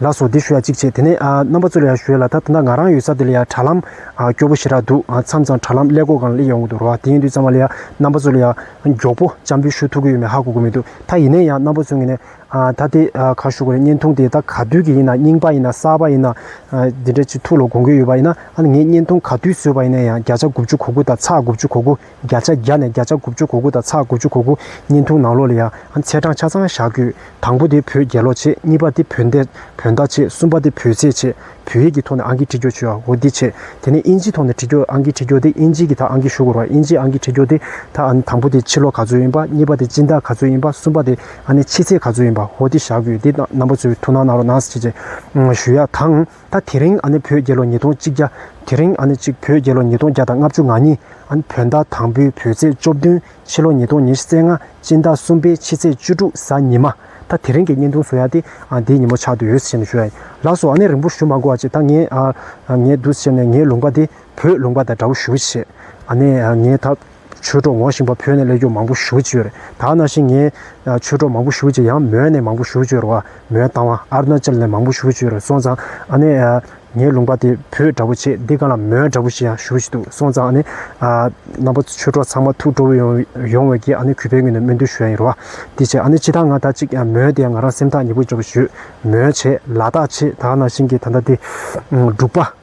ལགས་སོ་འདི་ཞུ་ཡ་ཅིག་བྱེད་དེ་ནས་རྣམ་པ་ཚོ་ལ་ཡང་ཞུ་ཡ་ལ་ད་ད་ནང་ང་རང་ཡོད་ས་དེ་ལ་ཡང་དྲ་ལམ་སྐྱོ་པོ་ཞེ་དྲག་འདུག་མཚམས་མཚམས་དྲ་ལམ་ཀླད་ཀོར་གང་ལེགས་ཡོང་གི་འདུག་རོགས་དེ་ཡིན་དུས་ཚང་མ་ལ་ཡང་རྣམ་པ་ཚོ་ལ་ཡང་མགྱོགས་པོ་བཅར་འབུལ་ཞུ་ཐུབ་གི་ཡོད་མེད་ཧ་གོ་གི་མི་འདུག་ད་ཡིན་ནའི་ཡང་རྣམ་པ་ཚོ་ངེས་ནས་ད་དེ་ག་ཞུ་གི་རེད་བརྙན་ཐུང་དེ་ད་ག་དུས་ཀྱི་ཡིན་ན་རྙིང་པ་ཡིན་ན་གསར་པ་ཡིན་ན་དེ་འདྲ་ཅིག་ཐུགས་ལ་དགོངས་ཀྱི་ཡོད་པ་ཡིན་ན་ངས་བརྙན་ཐུང་ག་དུས་བཟོས་པ་ཡིན་ན་ཡང་བརྒྱ་ཆ་དགུ་བཅུ་གོ་དགུ་དང་ཚགས་དགུ་བཅུ་གོ་དགུ། བརྒྱ་ཆ་བརྒྱ་ནས་བརྒྱ་ཆ་དགུ་བཅུ་གོ་དགུ་དང་ཚ་དགུ་བཅུ་གོ་དགུ་བརྙན་ཐུང་ནང་ལོགས་ལ་ཡང་ཚད་གྲངས་ཆ་ཚང་བཞག་དགོས། དང་པོ་དེ་བོད་རྒྱལ་ལོ་ཆེ་གཉིས་པ་དེ་བོད་འདས་བོད་ཟླ་ཆེ་གསུམ་པ་དེ་བོད་ཚེས་ཆེ་བོད་ཡིག་གི་ཐོག་ནས་ཨང་ཀི་འཁྲིད་རྒྱོགས་བྱོས་འོ་འདི་ཆེ། དེ་ནས་ཨིན་ཇིའི་ཐོག་ནས་འཁྲིད་རྒྱོགས་ཨང་ཀི་འཁྲིད་རྒྱོགས་དེ་ཨིན་ཇིའི་གི་དག་ཨང་ཀི་ཞུ་དགོས་རོགས་ཨིན་ཇིའི་ཨང་ཀི་འཁྲིད་རྒྱོགས་དེ་དག་ཨ་ནི་དང་པོ་དེ་ཕྱི་ལོ་ག་ཚོད་ཡིན་པ་གཉིས་པ་དེ་སྤྱི་ཟླ་ག་ཚོད་ཡིན་པ་གསུམ་པ་དེ་ཨ་ནི་ཕྱི་ཚེས་ག་ཚོད་ཡིན་པ་འོ་འདི་བཞག་དགོས་དེ་རྣམ་པ་ཚོའི་ཐུགས་སྣང་གནང་རོགས་གནང་ཞེས་བརྗོད་ཡ་དང། ད་དེ་རིང་ཨ་ནི་བོད་རྒྱལ་ལོ་ཉིས་སྟོང་གཅིག་བརྒྱ། དེ་རིང་ཨ་ནི་གཅིག་བོད་རྒྱལ་ལོ་ཉིས་སྟོང་བརྒྱ་དང་ལྔ་བཅུ་ང་གཉིས། ཨ་ནི་བོད་ཟླ་དང་པོའི་བོད་ཚེས་བཅོ་བདུན། ཕྱི་ལོ་ཉིས་སྟོང་ཉེར་བརྩེགས་ལྔ་སྤྱི་ཟླ་གསུམ་པའི་ཕྱི་ཚེས་བཅུ་དྲུག་གཟའ་ཉི་མ། ད་དེ་རིང་གི་བརྙན་ཐུང་བཟོ་ཡག་སྟེ། དེའི་ཉིན་མོ་ཆགས་དུས་འོད་ཟེར་ཞེས་ནས་ཞུ་ཡ་ཡིན། ལགས་སོ་ཨ་ནི་རིང་པོ་ཞུ་མ་དགོ་བ་ཅིག་ད་ངས། ངས་བསྡུ་ཟེར་ནས་ངའི་ལུང་པ་དེ་བོད་ལུང་པ་དང་འདྲ་བོ་ཞུ་གི་བྱས། ཨ་ནི་ངས་ད། ཆོས་གྲོགས་འོང་བཞིན་པ་བོད་ནས་སླེབས་རྒྱུ་མང་པོ་ཞུ་བཅོས་རེད་ད་ནང་བཞིན་ངས་ཆོས་གྲོགས་མང་པོ་ཞུ་བཅོས་ཡང་མོན་ནས་མང་པོ་ཞུ་བཅོས་རོ་མོན་དང་བ་ཨར་ན་ཅལ་ནས་མང་པོ་ཞུ་བཅོས་རེད་སོང་ཙང་ཨ་ནེ་ངའི་ལུང་པ་དེ་བོད་འདྲ་པོ་ཆེ་འདི་ག་ལ་མོན་འདྲ་པོ་ཞིག་ཡང་ཞུ་བཞིན་འདུག་སོང་ཙང་ཨ་ནེ་རྣམ་པ་ཆོས་གྲོགས་ཚང་མ་ཐུགས་སྤྲོ་བོ་ཡོང་བའི་གིས་ཨ་ནེ་གུས་པའི་ངོས་ནས་སྨོན་འདུན་ཞུ་ཡ་ཡིན་རོ་དེ་བྱས་ཨ་ནེ་ཕྱི་ད་ང་ད་ཅིག་མོན་དེ་ཡང་ང་རང་སེམས་ཐག་ཉེ་པོ་འཇོག་གི་ཞུ་མོན་བྱས་ལ་དག་ཆེ་ད་ནང་བཞིན་གྱི་ད་ལྟ་དེ་འབྲུག་པ།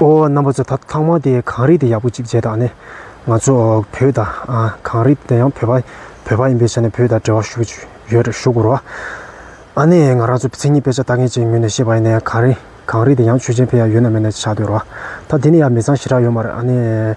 ཨོ་རྣམ་པ་ཚོ་ད་ཐང་མ་དེ་གངས་རི་དེ་ཡག་པོ་ཅིག་བྱས་དང་ནས་ང་ཚོ་བོད་དང་གངས་རི་དེ་ཡང་བོད་པ་བོད་པ་ཡིན་པའི་ཆ་ནས་བོད་དང་འབྲེལ་བ་ཞུ་གི་ཡོད་རེད་ཞུ་གོ་རོགས་ཨ་ནས་ང་རང་ཚོ་མཚན་ཉིད་དཔེ་ཆ་ལྟ་མཁན་ཅིག་ངོས་ནས་ཤེས་པ་ཡིན་ནས་གངས་རི་གངས་རི་དེ་ཡང་ཆོས་ཅན་ཕལ་ཡག་ཡོད་ན་མེད་ན་བྱ་འདོད་རོགས་ད་དེ་ནས་ཡང་མི་ཚང་ཞེ་དྲག་ཡོད་མ་རེད་ཨ་ནས།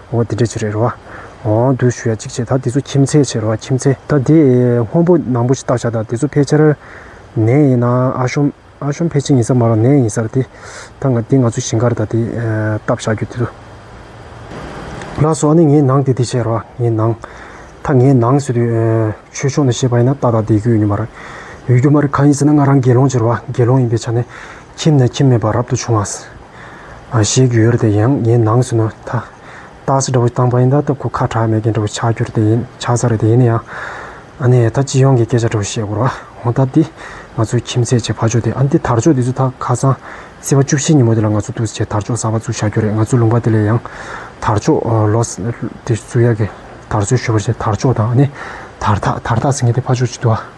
འོ་དེ་འདྲའི་ཆེད་རེད་རེད་བ། འོ་འདུག་ཞུ་ཡ་གཅིག་བྱས་ད་དེ་ཚོ་ཁྱིམ་མཚེས་ཆེད་རེད་བ་ཁྱིམ་མཚེས་ད་དེ་སྔོན་པོ་ནང་པོ་ཞིག་བཏགས་བཞག་ད་དེ་ཚོ་ཕལ་ཆེར། ནད་ཡིན་ན་ཨ་ཤོམ་ཨ་ཤོམ་ཕལ་ཆེར་ཡིན་ས་མ་རང་ནད་ཡིན་ས་རེད་དེ། ད་ང་དེ་ང་ཚོ་ཞིང་ཁར་ད་དེ་བཏབ་བཞག་རྒྱུ་དེ་ཚོ། ལགས་སོ་ཨ་ནི་ངའི་ནང་དེ་དེ་བྱས་རེད་བ་ངའི་ནང། ད་ངའི་ནང་ཟེར་དུས་ཆོས་ཕྱོགས་ནས་བཤད་པ་ཡིན་ན་ཏག་ཏག་བསྡད་རྒྱུ་ཡོད་ནི་མ་རེད། ཡོད་རྒྱུ་མ་རེད་གང་ཡིན་ཟེར་ན་ང་རང་དགེ་སློང་ཆེ་རེད་བ་དགེ་སློང་ཡིན་པའི་ཆ་ནས། ཁྱིམ་ནས་ཁྱིམ་མེད་པར་རབ་ཏུ་བྱུང་བ། ཞེས་བརྒྱུད་ཡོད་དེ་ཡང་ངའི་ནང་སུན་ན་ཐ། རྟགས་སུ་འདྲ་བོ་དང་བ་ཡིན་ད་སྟབས་ཁོ་ཁ་གྲགས་མེད་མཁན་འདྲ་བོ་ཆགས་གྱུར་དེ་ཡིན་ཆགས་ས་རེད་དེ་ཡིན་ན་ཡང། ཨ་ནེ་ད་སྤྱི་ཡོངས་ཀྱི་སྐད་ཆ་འདྲ་བོ་བཤད་དགོས་ར་འོང་ད་འདི་ང་ཚོའི་ཁྱིམ་མཚེས་ཀྱི་ཕ་ཆོས་དེ་ཨ་འདི་དར་ལྕོག་འདི་ཚོ་ད་ཁ་སང་སྲིད་པ་བཅུ་བཞིའི་ཉིན་མོ་དེ་ལ་ང་ཚོ་ཐུགས་བཞེད་དར་ལྕོག་གསར་པ་བཙུགས་ཆགས་གྱུར་རེད་ང་ཚོའི་ལུང་པ་དེ་ལས་ཡང། དར་ལྕོག་ལོས་དེ་བཙུགས་ཡག་གི་དར་སྲོལ་ཞུ་བར་བྱེད་དར་ལྕོག་དང་ཨ་ནེ་དར་ཐག་དར་ཐག་ཟེར་མཁན་དེ་ཕ་ཆོས་ཅིག་ཏུ་ཨ།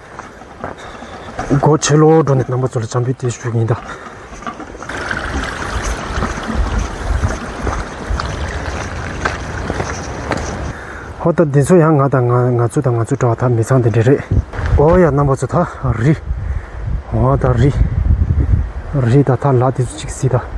སྒོ་ཕྱེ་ལོག་འགྲོ་ནས་རྣམ་པ་ཚོ་ལ་བྱམས་པའི་དུས་ཞུ་གིན་གདའ། ཧོ་ད་འདི་ཚོ་ཡང་ང་དང་ང་ཚོ་དང་ང་ཚོ་འདྲ་བ་དག་མི་ཚང་འདི་འདྲ་རེད། ཨོ་ཡ་རྣམ་པ་ཚོ་ད་རི། ཨོ་ད་རི། རི་ད་ད་ལ་དེ་ཚོ་ཅིག་སྲིད་ད།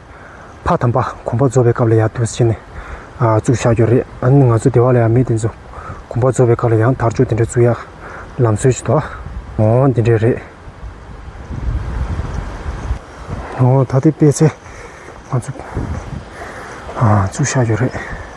ཕ་དམ་པ་གོམ་པ་རྫོབ་པའི་སྐབས་ལ་ཡང་དུས་ཕྱེས་ནས་བཙུགས་ཆགས་ཀྱི་རེད། ང་ཚོ་སྡེ་བ་ལ་ཡང་མི་དེ་ཚོ་གོམ་པ་རྫོབ་པའི་སྐབས་ལ་ཡང་དར་ལྕོག་དེ་འདྲ་བཙུགས་ཡག་ལམ་སྲོལ་གྱི་དོ་བདག་འདི་འདྲས་རེད། ད་ལྟའི་དཔེ་ཚེ་ང་ཚོ་བཙུགས་ཆགས་ཀྱི་རེད།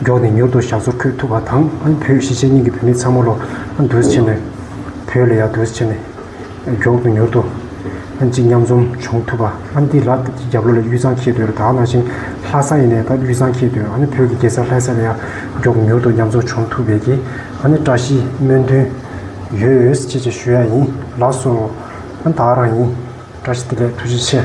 མགྱོགས་ནས་མྱུར་དུ་ཞག་ཚོ་འཁོད་ཐུབ་པ་དང་ཨ་བོས་གཞིས་བྱེས་གཉིས་ཀྱི་བུད་མེད་ཚང་མ་ལོ་ན་དུས་ཆེན་ནས་བོད་ལ་ཡར་དུས་ཆེན་ནས་མགྱོགས་དུ་མྱུར་དུ་གཅིག་མཉམ་འཛོམ་བྱུང་ཐུབ་པ་ཨ་འདི་ལགས་ཀྱི་རྒྱབ་ལོ་ལ་གཡུ་ཚང་འཁྱིལ་དུས་ལ་དྭགས་ནང་བཞིན་ལྷ་ས་ཡིན་ནས་ད་གཡུ་ཚང་འཁྱིལ་དུས་ཨ་ནི་བོད་ཀྱི་གེ་སར་ལྷ་ས་ལ་ཡར་མགྱོགས་དུ་མྱུར་དུ་མཉམ་འཛོམ་བྱུང་ཐུབ་པས་ཀྱི་ཨ་ནི་བཀྲ་ཤིས་སྨོན་འདུན་ཡོད་ཅེས་ཞུ་ཡ་ཡིན་ལགས་སོ། ཨ་ནི་དྭགས་རང་ཡིན། བཀྲ་ཤིས་བདེ་ལེགས་ཐུགས་རྗེ་ཆེ།